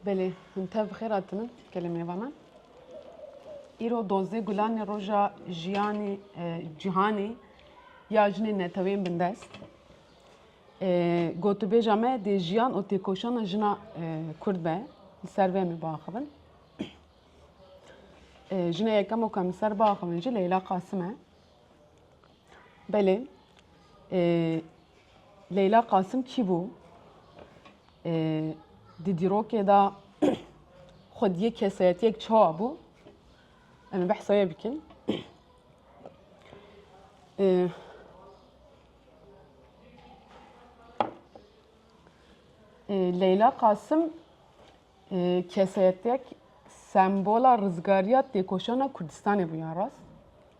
Belê, him tev bi xêr hatinin gelê mêva me. Îro dozê gulanê roja jiyanê e, cîhanê ya jinên netewên bindest. E, Gotûbêja me dê jiyan û têkoşana jina e, Kurd be. Li ser vê em ê biaxivin. E, Jina yekem û kam li ser biaxivin jî Leyla Qasim e. Belê. Leyla Qasim kî bû? Di dîrokê de xwe diyê kesayetiyek çawa bû? Em ê behsa wê bikin. Leyla Qasim kesayetiyek sembola rizgariya têkoşana Kurdistanê bû yan rast?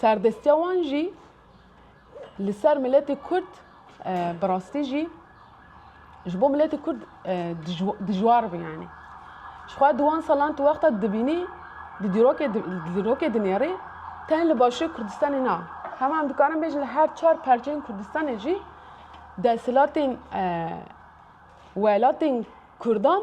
Serdestiya wan jî li ser miletê Kurd bi rastî jî ji bo miletê Kurd dijwar bû yanî. Jixwe di wan salan tu wexta dibînî di dîrokê dinêrî tenê li Başûrê Kurdistanê na. Hema em dikarin bêjin li her çar parçeyên Kurdistanê jî desthilatên welatên Kurdan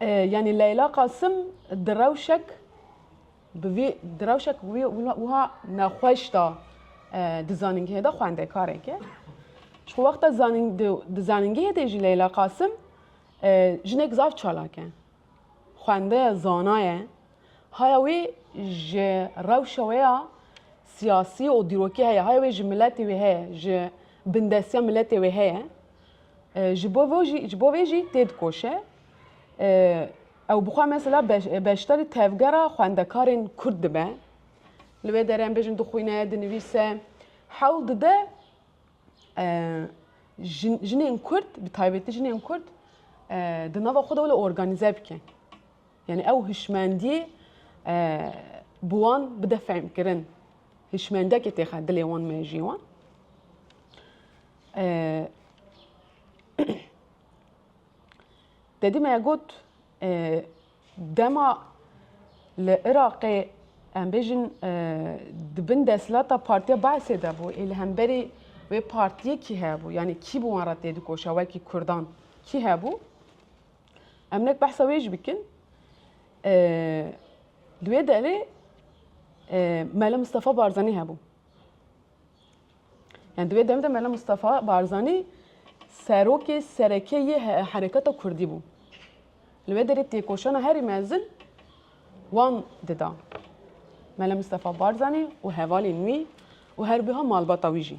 Yanî Leyla Qasim di rewşek bi vî di rewşek wî wiha nexweş da di zanîngehê de xwendekareke. Ji xwe wexta zanîng di zanîngehê de jî Leyla Qasim jinek zaf çalak e. Xwende ye, zana ye. Haya wê ji rewşa wê ya siyasî û dîrokî heye. Haya wê ji miletê wê heye, ji bindestiya miletê wê heye. Ji bo vê jî ji bo vê jî tê dikoşe. Ew bi xwe mesela beşdarî tevgera xwendekarên Kurd dibe. Li wê derê em bêjin dixwîne, dinivîse. Hewl dide jinên Kurd bi taybetî jinên Kurd di nava xwe de wele organîze bike. Yani ew hişmendiyê bi wan bide fehmkirin. Hişmendiyekê têxe dilê wan mejiyê wan. Dedî me got dema li Iraqê em bêjin di bin desthilata Partiya Baesê de bû ê li hemberî wê partiyê kî hebû yanî kî bi wan re tê dikoşa wekî Kurdan kî hebû em nek behsa wê jî bikin di wê derê Mele Mistefa Barzanî hebû. Yan di wê dem de Mela Mustafa Barzanî serokê sereke yê hereketa Kurdî bû. Li wê derê têkoşana herî mezin wan dida. Mela Mustafa Barzanî û hevalên wî û herbiha malbata wî jî.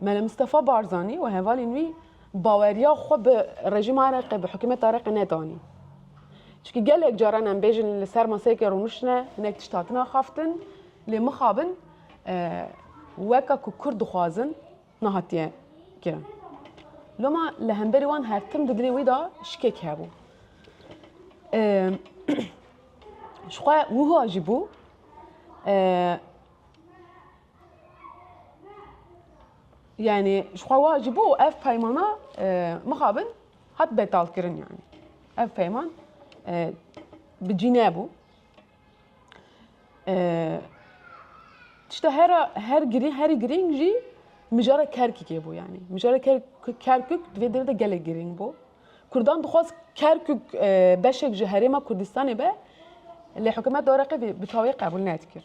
Mele Mistefa Barzanî û hevalên wî baweriya xwe bi rejîma Iraqê, bi hikûmeta Iraqê nedanî. Çikî gelek caran em bêjin li ser maseyekê rûniştine hinek tişt hatina xaftin lê mixabin weka ku Kurd dixwazin nehatiye kirin. Loma li hemberî wan her tim di dilê wî de şikek hebû. Ji xwe wiha jî bû Yani ji xwe wa ji bo ev peymana mixabin hat betalkirin yani. Ev peyman bi cî nebû. Tişta her her girî herî girîng jî mijara Kerkûkê bû yani. Mijara Kerkûk divê dêrê de gelek girîng bû. Kurdan dixwaz Kerkûk beşek ji herêma Kurdistanê be lê hikûmeta Iraqê bi tawî qebûl nedikir.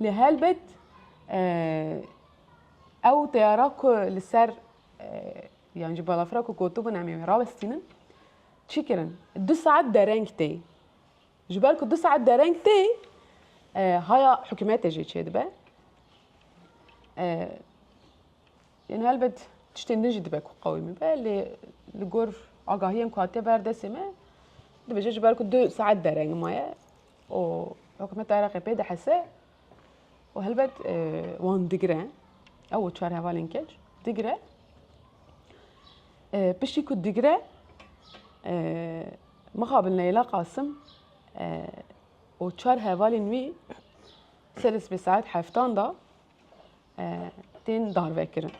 Lê helbet ew teyara ku li ser yan ji balafira ku gotibûn em ê wê rawestînin çi kirin? Du saet dereng tê. Ji ber ku du saet dereng tê haya hikûmetê jê çêdibe. Yên helbet tiştên din jî dibe ku qewîmî be lê li gor agahiyên ku hatiye ber destê me dibêje ji ber ku du saet dereng maye û hikûmeta Iraqê pê dihese û helbet wan digire ew û çar hevalên keç digire piştî ku digire mixabil Neyla Qasim û çar hevalên wî ser spê saet heftan da tên darvekirin.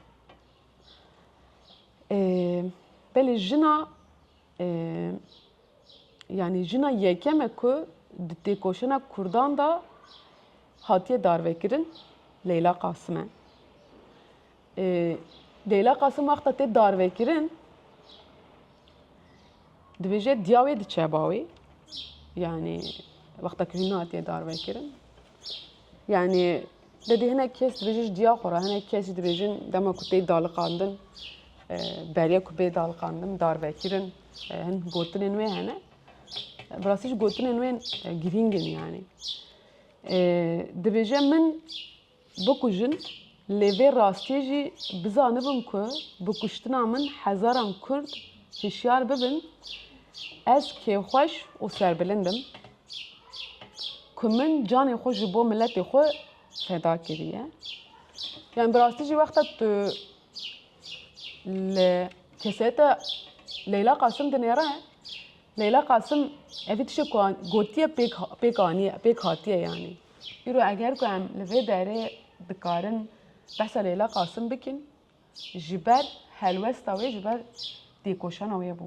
Belê jina Yanî jina yekem e ku di têkoşîna Kurdan de hatiye darvekirin Leyla Qasim e. Leyla Qasim wexta tê darvekirin dibêje diya wê diçe bawê. Yanî wexta ku hîn hatiye darvekirin. Yanî Debê hinek kes dibêjin ji diya xwe re hinek kes jî dibêjin dema ku tê daliqandin beriya ku bê daliqandin darvekirin hin gotinên wê hene. Bi rastî ji gotinên wê girîng in yanî. Dibêje min bikujin lê vê rastiyê jî bizanibin ku bi kuştina min hezaran kurd hişyar bibin ez kêfxweş û serbilind im. ku min canê xwe ji bo miletê xwe feda kiriye. Yani bi rastî jî wexta tu li keseta Leyla Qasim dinêre, Leyla Qasim evî tişek ku gotiye pêk pêk aniye pêk hatiye yanî. Îro eger ku em li vê derê dikarin behsa Leyla Qasim bikin ji ber helwesta wê ji ber têkoşana wê bû.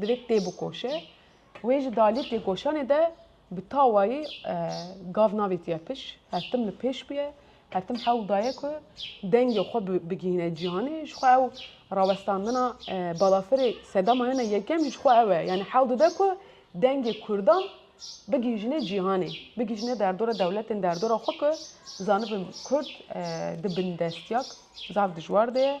Divê tê bikoşe. Wê ji dalê têkoşanê de bi tawayî gav navêtiye piş. Her tim li pêş bûye. Her tim hewl daye ku dengê xwe bigihîne cîhanê. Ji xwe ew rawestandina balafirê sedama hene yekem jî ji xwe ew e. Yanî hewl dide ku dengê kurdan bigihîjîne cîhanê. Bigihîjîne derdora dewletên derdora xwe ku zanibin kurd di bindestîya zaf dijwar de ye.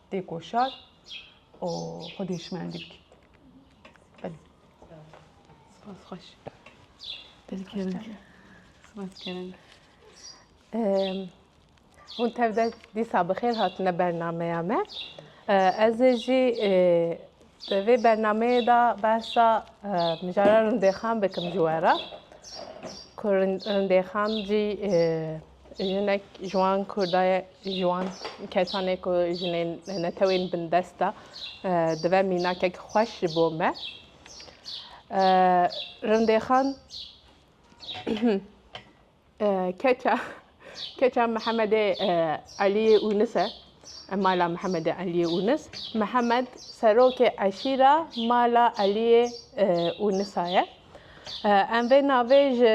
têkoşar û xwedî şimendî bike. Belê. Spas xweş. Hûn tev de dîsa bi xêr hatine bernameya me. Ez ê jî di vê bernameyê de behsa mijara rindêxan bikim ji we re. Ku rindêxan jî Jinek ji wan Kurda ye, ji wan kesan e ku jinên netewên bindest e. Dibe mînakek xweş ji bo me. Rindêxan keça keça Mihemedê Eliyê Unis e. Mala Mihemedê Eliyê Unis. Mihemed serokê eşîra mala Eliyê Unisa ye. Em vê navê ji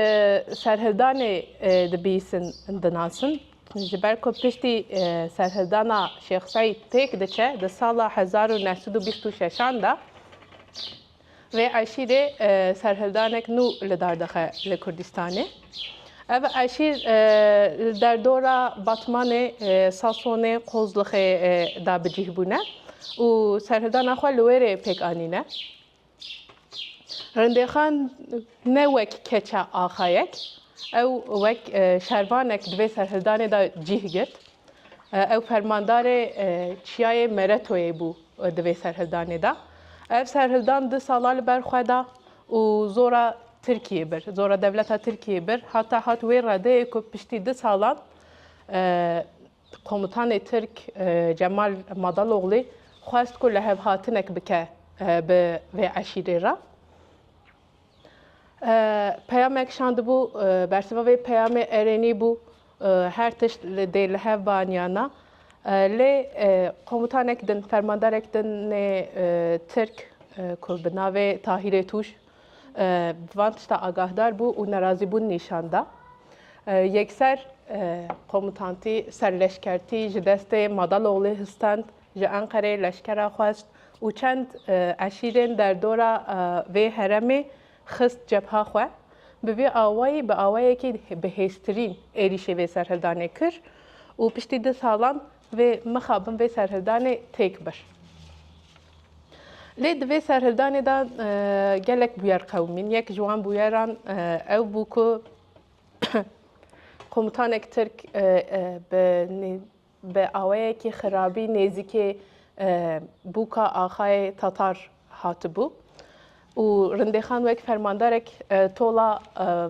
serhildanê dibîsin dinasin. Ji ber ku piştî serhildana Şêx Seîd pêk diçe di sala hezar û neh sed û bîst û şeşan de vê eşîrê serhildanek nû li dar dixe li Kurdistanê. Ev eşîr li derdora Batmanê, Sasonê, Qozlixê de bicîh bûne û serhildana xwe li wê rê pêk anîne. Rindêxan ne wek keça axayek, ew wek şervanek di vê serhildanê de cîh girt. Ew fermandarê çiyayê Meretoyê bû di vê serhildanê de. Ev serhildan du sala li ber xwe da û zora Tirkiyê bir, zora dewleta Tirkiyê bir hata hat wê redeyê ku piştî du salan Komutanê Tirk Cemal Madaloglî xwest ku lihevhatinek bike bi vê eşîrê re. Peyamek şandibû, bersiva vê peyamê erênî bû her tişt dê li hev ban yan na. Lê komutanek din, fermandarek din nê Tirk ku bi navê Tahîrê Tûj bi van tişta agahdar bû û nerazîbûn nîşan da. Yekser komutantî ser leşkertî ji destê Madaloglê histand, ji Enqereyê leşkera xwest û çend eşîrên derdora vê heremê xist cebha xwe. Bi vî awayî bi awayekî bihêztirîn êrîşê vê serhildanê kir û piştî du salan Vê mixabin vê serhildanê têk bir. Lê di vê serhildanê de gelek bûyer qewimîn. Yek ji wan bûyeran ew bû ku komutanek Tirk bi awayekî xirabî nêzîkê bûka axayê Tatar hatibû û Rindêxan wek fermandarek tola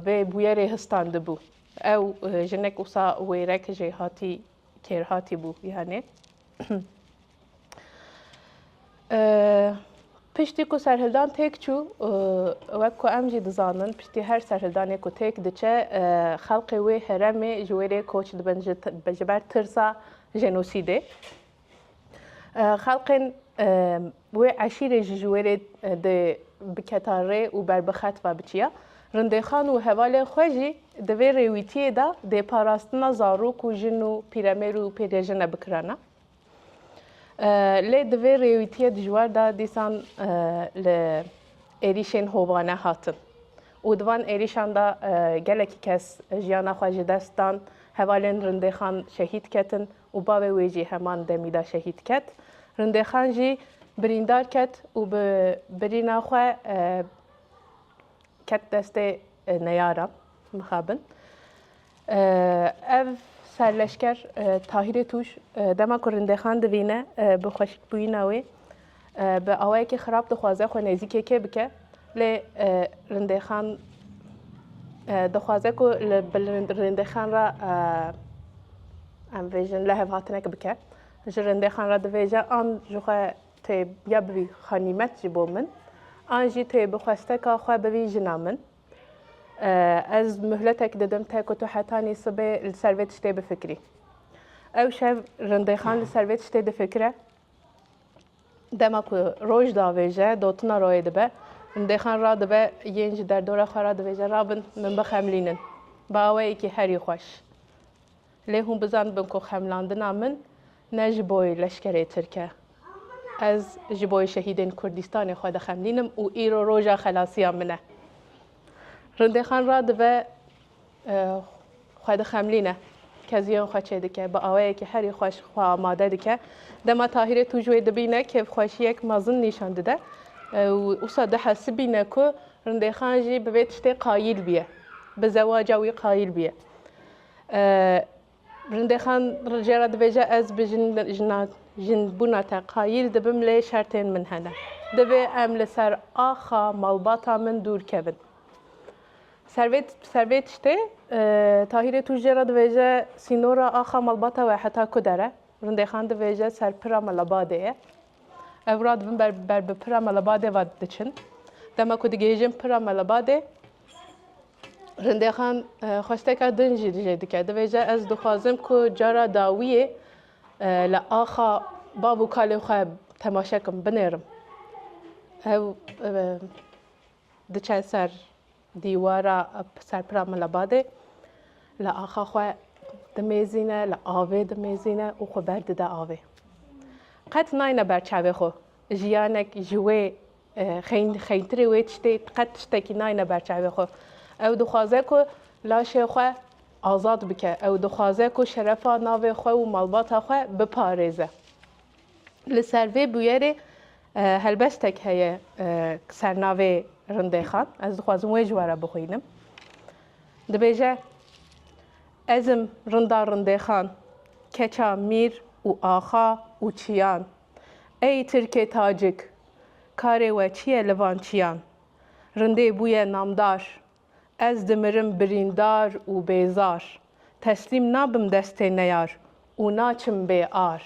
vê bûyerê histandibû. Ew jinek wisa wêrek jê hatî Kêrhatî bû yanê. Piştî ku serhildan têk çû wek ku em jî dizanin piştî her serhildanê ku têk diçe xelqê wê heremê ji wê rê koç dibin ji ber tirsa jenosîdê. Xelqên Wê eşîrê ji ji wêrê dê biketa rê û ber bi xet ve biçiya. Rindêxan û hevalên xwe jî di vê rêwîtiyê de dê parastina zarok û jin û pîremêr û pêrêjine bikirana. Lê di vê rêwîtiyê dijwar de dîsan li êrîşên hovane hatin û di van êrîşan de gelekî kes jiyana xwe ji dest dan, hevalên rindêxan şehîd ketin. û bavê wê jî heman demî de şehîd ket. Rindêxan jî birîndar ket û bi birîna xwe ket destê neyaran mixabin. Ev serleşker Tahîrê Tûj dema ku Rindêxan divîne bi xweşikbûyîna wê, Bi awayekî xirab dixwaze xwe nêzîkê kê bike lê Rindêxan dixwaze ku li bil Rindêxan re em vêjin lehev hatinek bike. Ji Rindêxan re divêje an ji xwe tê ya bibî xanîmet ji bo min an jî tê bi xwesteka xwe bibî jina min. Ez muhletek didim te ku tu hetanî sibê li ser vê tiştê bifikirî. Ew şev Rindêxan li ser vê tiştê difikire. Dema ku roj davêje dotina royê dibe. Min dêxan radibe yên ji derdora xwe re divêje rabin min bixemlînin. Bi awayekî herî xweş. Lê hûn bizanibin ku xemlandina min ne ji bo leşkerê tirk e. Ez ji bo şehîdên Kurdîstanê xwe dixemlînim û îro roja xelasiya min e. Rindêxan radive xwe dixemlîne. Keziyên xwe çêdike. Bi awayekî herî xweş xwe amade dike. Dema Tahîrê tûj wê dibîne kêfxweşiyek mezin nîşan dide. Wisa dihesibîne ku Rindêxan jî bi vê tiştê qayîl bûye. Bi zewaca wî qayîl bûye. Rindexan jê re dibêje ez bi jina jinbûna te qayîl dibim lê şertên min hene. Divê em li ser axa malbata min dûr kevin. Servêt servê tiştê Tahîrê tû jê re dibêje sînora axa malbata we heta ku der e. Rindexan dibêje ser pira Melebadê ye. Ev ra dibin ber ber bi pira Melebadê ve diçin. Dema ku digihêjin pira Melebadê Rindexan xwesteka din jî dijê dike. Dibêje ez dixwazim ku cara dawiyê li axa bav û kalên xwe temaşe kim, binêrim. Ew diçe ser dîwara ser pira min li badê li axa xwe dimêzîne, li avê dimêzîne û xwe berdide avê. Qet nayne ber çavê xwe. Jiyanek ji wê Xeyn, xeyntirê wê tiştê qet tiştekî nayne ber çavê xwe. Ew dixwaze ku laşê xwe azad bike. Ew dixwaze ku şerefa navê xwe û malbata xwe biparêze. Li ser vê bûyerê helbestek heye ser navê Rindêxan. Ez dixwazim wê ji we re bixwînim. Dibêje, Ez im Rinda Rindêxan, keça Mîr û Axa û Çiyan. Ey Tirkê Tacik, Karê we çi ye li van çiyan? Rindê bûye namdar. Ez dimirim birîndar û bêzar. Teslîm nabim destê neyar û naçim bê ar.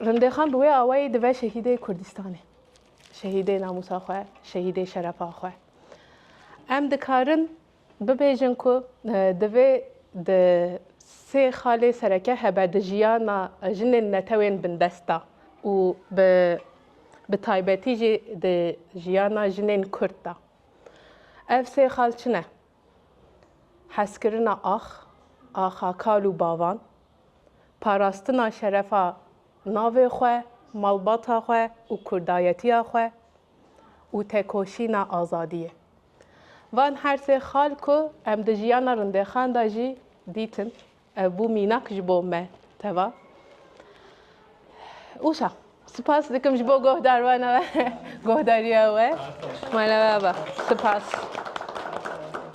Rindê xan bi wê awayî dive şehîdê Kurdistanê. Şehîdê namûsa xwe, şehîdê şerefa xwe. Em dikarin Bibêjin ku divê di sê xalê sereke hebe di jiyana jinên netewên bindest de û bi bi taybetî jî di jiyana jinên Kurd de. Ev sê xal çi ne? Hezkirina ax, axa kal û bavan, parastina şerefa navê xwe, malbata xwe û kurdayetiya xwe, û tekoşîna azadiyê. Van her sê xal ku em di jiyana rindexan de jî dîtin, ev bû mînak ji bo me teva. Ûşa, spas dikim ji bo guhdarwana we, guhdariya we. Mala we ava. Spas.